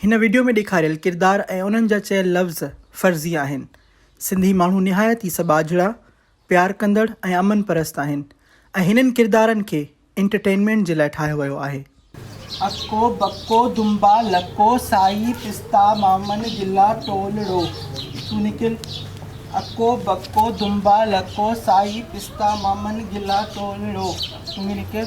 هن وڊيو ۾ ڏيکاريل ڪردار ۽ انهن جا چيل لفظ فرضي آهن. سنڌي ماڻهو نهايت ئي سٻاجهڙا، پيار ڪندڙ ۽ امن پرست آهن ۽ هنن ڪردارن کي انٽرٽينمينٽ جي لاء ٺاهيو ويو آهي. اڪو، بڪو، دنبا، لڪو، سائي، پستا، مامن، گلا، ٽول، ڙو، تون نڪل اڪو، بڪو، دنبا، لڪو، سائي، پستا، مامن، گلا، ٽول، ڙو، تون به نڪر.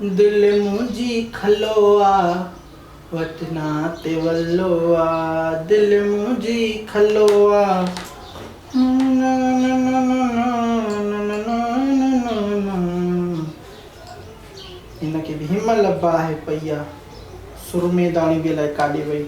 دل منهنجي کلو آ، وٽنا تي ولو آ، دل منهنجي کلو آ، نانا نانا نانا نانا نانا. ان کي به هيمل باهه پئي آ، سرمي داڻي به الائي ڪاڏي وئي.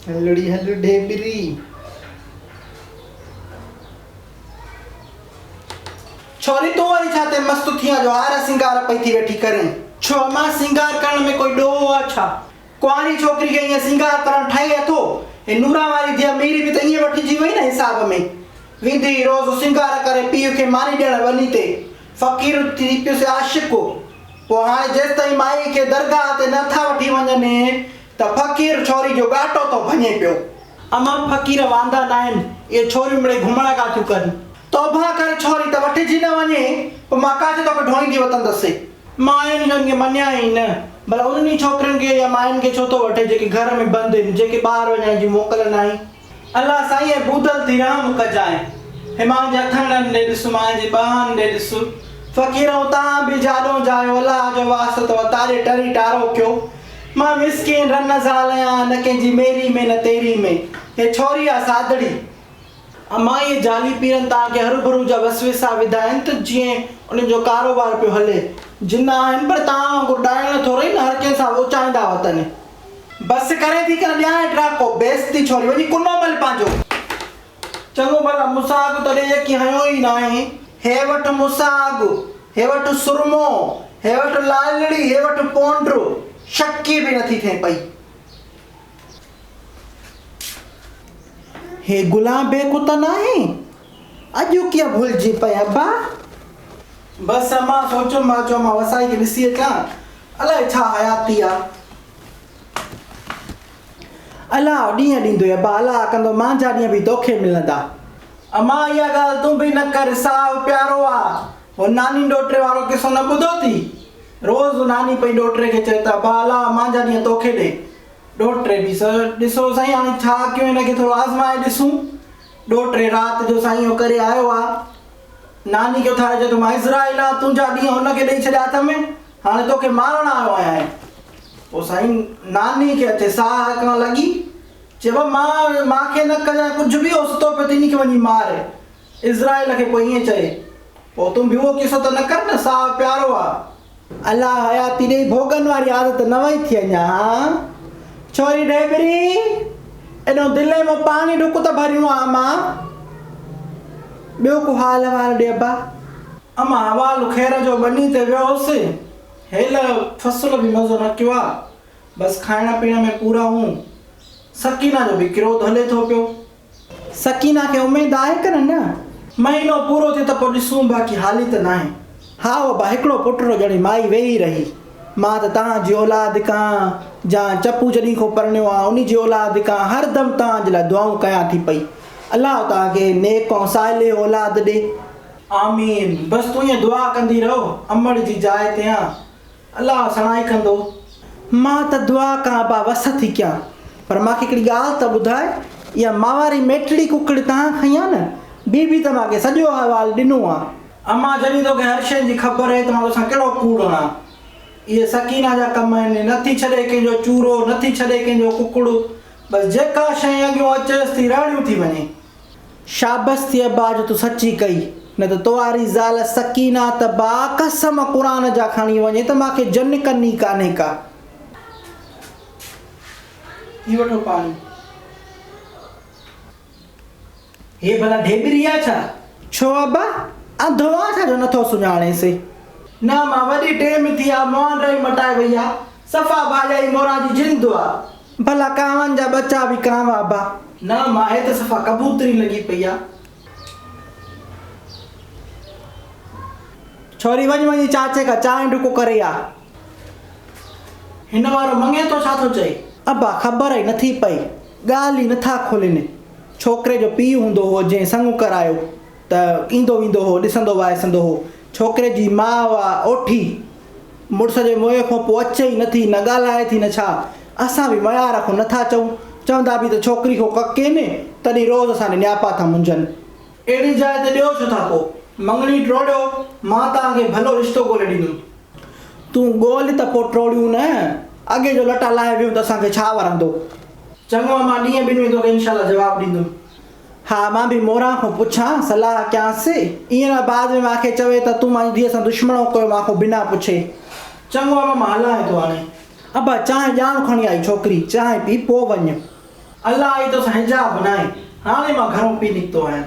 هلڙي هل ڍيبري. ڇوري تون وري ڇا تي مست ٿيان جو هار سينگار پئي ٿي ويٺي ڪرين. ڇو امان سينگار ڪرڻ ۾ ڪوئي ڏوهه آ ڇا. ڪنواري ڇوڪري کي ائين سينگار ڪرڻ ٺهي اٿو. هي نورا واري ڌيء ميري به ته ائين وٺجي وئي نه حساب ۾. ويندي ئي روز سينگار ڪري پيء کي ماني ڏيڻ ٻني تي. فقير ٿي پيس عاشق هو. پوء هاڻي جيستائين مائي کي درگاهه تي نه ٿا وٺي وڃن ته فقير ڇوري جو ڳاٽو ٿو ڀڃي پيو. امان فقير واندا ناهن اهي ڇوريون مڙئي گهمڻ ڪا ٿيون ڪن. توبهه ڪر ڇوري ته وٺجي نه وڃي پوء مان ڪاڇي توکي ڍوئيندي وتندس. ماين جو ان کي مڃيا ئي نه. ڀلا انهن ئي ڇوڪرين کي يا ماين کي ڇو ٿو وٺين جيڪي گهر ۾ بند هن جيڪي ٻاهر وڃڻ جي موڪل ناهي. الله سائينء بودل ٿي رحم ڪجانء. همان جي هٿاڻن ڏي ڏس مان جي ٻانهن ڏي ڏس. فقيرؤ تان به جاڏون جايو الله جو واسطو آ تاري ٽري ٽارو ڪيو. مان مسڪين رن زال آهيان نه ڪنهن جي ميري ۾ نه تيري ۾. هي ڇوري آ سادڙي. امان اهي جعلي پيرن تان ڪي هروڀرو جا وسويسا وڌا آهن ته جيئن انهن جو ڪاروبار پيو هلي. جن آهن پر تان وانگر ڏائڻ ٿورئي نه هر ڪنهن سان ووچائيندا وتن. بس ڪري ٿي ڪر ٻيا ڊراڪو بيس ٿي ڇوري وڃي ڪنو مل پنهنجو. چڱو ڀلا مون سان اڳ تڏهن يڪي هنيو ئي ناهي. هي وٺ مون سان اڳ، هي وٺ سرمو، هي وٺ لالڙي، هي وٺ پونڊر، شڪي به نٿي ٿئين پئي. هي گلان بيڪ اتان ناهي. اڄ ڪيئن ڀلجي پئي ابا. بس امان سوچيم مان چيو امان وسائي کي ڏسي اچان الائي ڇا حياتي آ. الاء ڏينهن ڏيندوئي ابا الاء ڪندو مانجھا ڏينهن به توکي ملندا. امان اها ڳالهه تون به نه ڪر ساهه پيارو آ هو ناني ڏوهٽي وارو قصو نه ٻڌو ٿي روز ناني پئي ڏوهٽي کي چوي ته ابا الاء مانجھا ڏينهن توکي ڏي ڏوهٽي به ڏسو سائين هاڻي ڇا ڪيون هن کي ٿورو آزمائي ڏسون. ڏو ٽي رات جو سائين اهو ڪري آيو آ. ناني کي اٿاري چوي ٿو، مان اسرائيل آن، تنهنجا ڏينهن هن کي ڏئي ڇڏيا هٿ ۾، هاڻي توکي مارڻ آيو آهيان. پوء سائين ناني کي اچي ساهه اڪڻ لڳي، چيو مان مان کي نه ڪجانء ڪجهه به اهو ستو پيو تنهنجي کي وڃي مار. اسرائيل کي پوء ائين چئي، پوء تون به اهو قصو ته نه ڪر نه ساهه پيارو آ. الله حياتي ڏئي ڀوڳن واري عادت نه وئي ٿي اڃا ڇوري ڍيبري ايڏو دلين مان پاڻي ڍڪ ته ڀريون آ اما ٻيو ڪو حال احوال ڏي ابا. اما حوال خير جو ٻني تي ويو هوس هيل فصل به مزو نه ڪيو آ بس کائڻ پيئڻ ۾ پورا هون سڪينه جو به ڪروڌ هلي ٿو پيو سڪينه کي اميد آهي ڪنه نه؟ مهينو پورو ٿئي ته پوء ڏسون باقي هالي ته ناهي. ها ابا هڪڙو پٽ رو ڄڻي مائي ويهي رهي. مان ته تهان جي اولاد ڪان جان چپو جڏهين کون پرڻيو آهيان انهي جي اولاد ڪان هر دم توهان جي لاء دعائون ڪيان ٿي پئي. الله توهان کي نيڪ ۽ صالح اولاد ڏي. آمين بس تون ائين دعا ڪندي رهو امڙ جي جاء تيان. الله سڻائي ڪندو. مان ته دعا ڪان ابا وس ٿي ڪيان پر مان کي هڪڙي ڳالهه ته ٻڌاء اها مان واري ميٽڙي ڪڪڙ تهان کنئي آ نه؟ بي بي ته مان کي سڄو احوال ڏنو آ. امان جڏهن توکي هر شيء جي خبر آهي ته مان توسان ڪهڙو ڪوڙ هڻان. اهي سڪينه جا ڪم آهن. نه ٿي ڇڏي ڪنهن جو چورو نه ٿي ڇڏي ڪنهن جو ڪڪڙ. بس جيڪا شيء اڳيون اچيس ٿي رهڙيون ٿي وڃي. شابس ٿئي ابا جو تون سچي ڪئي نه ته تواري زال سڪينه ته با قسم قرآن جا کڻي وڃي ته ماکي جن ڪني ڪانهي ڪا. هي وٺو پاڻي. هي ڀلا ڍيٻري آ ڇا؟ ڇو ابا انڌو آ ڇا جو نٿو سڃاڻينسي. نه مان وڏي ٽيم ٿي آ مهان ڊرائي مٽائي وئي آ صفا ڀاڄائي موران جي جن دعا ڀلا ڪانون جا ٻچا به ڪانوا ابا. نه ماهي ته صفا ڪبوتري لڳي پئي آ. ڇوري وڃ وڃي چاچي کان چانهه ڍڪو ڪري آ. هن وارو مڱي ٿو ڇا ٿو چئي. ابا خبر ئي نٿي پئي ڳالهه ئي نٿا کولين ڇوڪري جو پيء هوندو هو جنهن سڱو ڪرايو. ته ايندو ويندو هو، ڏسندو وائسندو هو. ڇوڪري جي ماء اها اوٺي مڙس جي موئن کان پوء اچي ئي نه ٿي، نه ڳالهائي ٿي نه ڇا. اسان به ميار کان نٿا چئون، چوندا به ته ڇوڪري کان ڪک ڪينهي، تڏهن روز اسان ڏي نياپا ٿا منجهن. اهڙي جاء تي ڏيو ڇو ٿا پوء؟ مڱڻي ٽوڙيو، مان توهان کي ڀلو رشتو ڳولي ڏيندم. تون ڳول ته پوء ٽوڙيون نه، اڳي جو لٽا لاهي ويهون ته اسان کي ڇا ورندو؟ چڱو امان، ڏينهن ٻن ۾ توکي انشاء الله جواب ڏيندم. ها مان به موران کان پڇان، صلاح ڪيانس، ايئن نه بعد ۾ مان کي چوي ته تون مانجي ڌيء سان دشمڻ هو ڪيو مان کان بنا پڇي. چڱو ابا مان هلان ٿو هاڻي. ابا چانهه ڄاڻ کڻي آء ڇوڪري، چانهه پي پوء وڃ. الله آئي توسان حجاب بنائي، هاڻي مان گهرون پي نڪتو آهيان.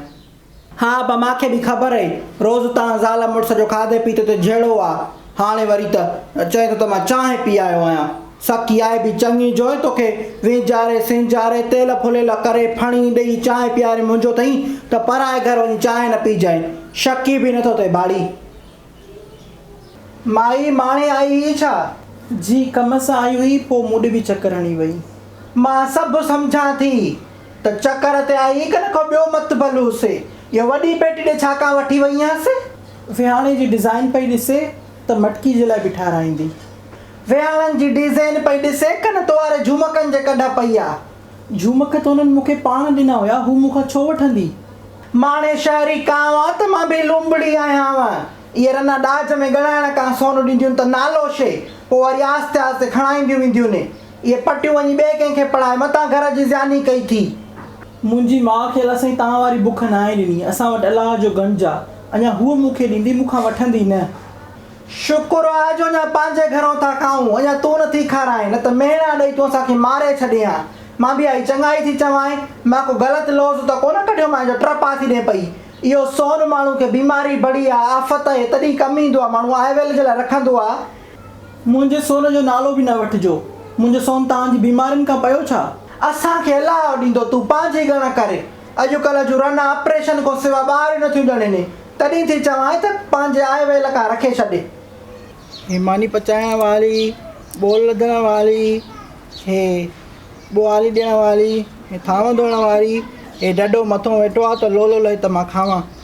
ها ابا مان کي به خبر هئي، روز توهان زال مڙس جو کاڌي پيتي تي جهيڙو آ، هاڻي وري ته چئين ٿو ته مان چانهه پي آيو آهيان. سا ڪيائي به چڱي جوئي توکي وينجهاري سينجهاري تيل ڦليل ڪري ڦڻي ڏئي چانهه پياري منهنجو ٿئين ته پرائي گهر وڃي چانهه نه پيجانء شڪ ئي به نه ٿو ٿئي ٻاڙي. مائي ماڻي آئي هئي ڇا؟ جي ڪم سان آئي هئي پوء مون ڏي به چڪر هڻي وئي. مان سڀ سمجهان ٿي ته چڪر تي آئي هئي ڪنهن کان ٻيو مت ڀل هوسي اها وڏي پيٽي ڏي ڇا ڪا وٺي وئي هئانس. ويهاڻي جي ڊزائين پئي ڏسي ته مٽڪي جي لاء به ٺاهرائيندي. وياڻن جي ڊيزين پئي ڏسي، ڪن تواري جهومڪن جي ڪڍ پئي آ. جهومڪ ته هنن مون کي پاڻ ڏنا هيا، هو مون کان ڇو وٺندي؟ ماڻي شهري ڪانء آ ته مان به لونبڙي آهيانء. اهي رنا ڏاج ۾ ڳڻائڻ ڪانء سون ڏينديون ته نالو شي، پوء وري آهستي آهستي کڻائينديون وينديون ني. اهي پٽيون وڃي ٻئي ڪنهن کي پڙهائي، متان گهر جي زياني ڪئي ٿي. منهنجي ماء کي الا سائين توهان واري بک ناهي ڏني، اسان وٽ الله جو ڳڻج آ. اڃا هوء مون کي ڏيندي، مون کان وٺندي نه. شڪر آ جو اڃا پنهنجي گهرون ٿا کائون، اڃا تون نٿي کارائين، نه ته مهڻا ڏئي تون اسان کي ماري ڇڏين ها. مان به اهائي چڱائي ٿي چوانء، مان ڪو غلط لوظ ته ڪونه ڪڍيومانء جو ٽرپ آ ٿي ڏي پئي. اهو سون ماڻهو کي بيماري، بڙي آ، آفت اهي تڏهين ڪم ايندو آ، ماڻهو آء ويل جي لاء رکندو آ. منهنجي سون جو نالو به نه وٺجو. منهنجو سون توهان جي بيمارين کان پيو ڇا؟ اسان کي الله ڏيندو، تون پنهنجي ڳڻ ڪر. اڄڪلهه جون رنا آپريشن کان سوا ٻار ئي نٿيون ڄڻين هي تڏهن ٿي چوانء ته پنهنجي آء ويل کان رکي ڇڏي. هي ماني پچائڻ واري، ٻول لڌڻ واري، هي ٻوهاري ڏيڻ واري، هي ٿانو ڌوئڻ واري، هي ڍڍو مٿون ويٺو آ ته لولو لهي ته مان کاوان.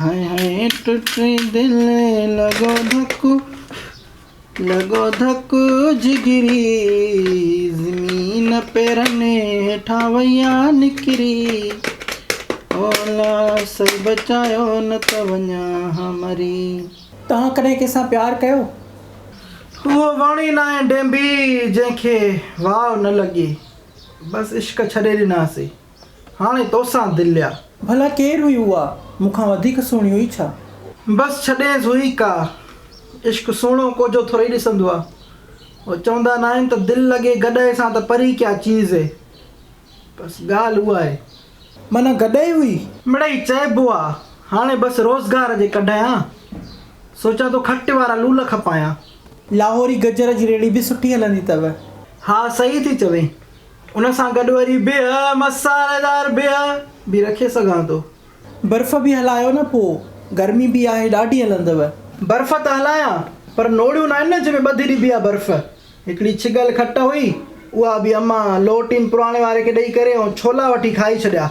هائي هائي ٽٽي دل لڳو ڌڪ لڳو ڌڪ جگري زمين پيرن هيٺان وئي آ نڪري او الله سائين بچايو نه ته وڃان ها مري. توهان ڪڏهن ڪنهن سان پيار ڪيو؟ هوء وڻ ئي ناهي ڊينڀي جنهن کي واء نه لڳي بس عشق ڇڏي ڏناسي. هاڻي توسان دليا. ڀلا ڪير هئي اها، مون کان وڌيڪ سهڻي هئي ڇا؟ بس ڇڏينس هئي ڪا، عشق سهڻو ڪوجهو ٿورئي ڏسندو آ. هو چوندا ناهن ته دل لڳي گڏهه سان ته پري ڪيا چيز هي. بس ڳالهه اها هي. معنيٰ گڏهه هئي. مڙئي چئبو آ، هاڻي بس روزگار جي ڪڍيان. سوچان ٿو کٽ وارا لول کپايان. لاهوري گجر جي ريڙهي به سٺي هلندي اٿئو. ها صحيح ٿي چوين. ان سان گڏ وري بيهه، مصالحيدار بيهه، به رکي سگهان ٿو. برف به هلايو نه پوء گرمي به آهي ڏاڍي هلندو. برف ته هلايان پر نوڙيون ناهن نه جنهن ۾ ٻڌي ڏبي آهي برف. هڪڙي ڇڳل کٽ هئي اها به امان لوٽين پراڻي واري کي ڏئي ڪري ۽ ڇولا وٺي کائي ڇڏيا.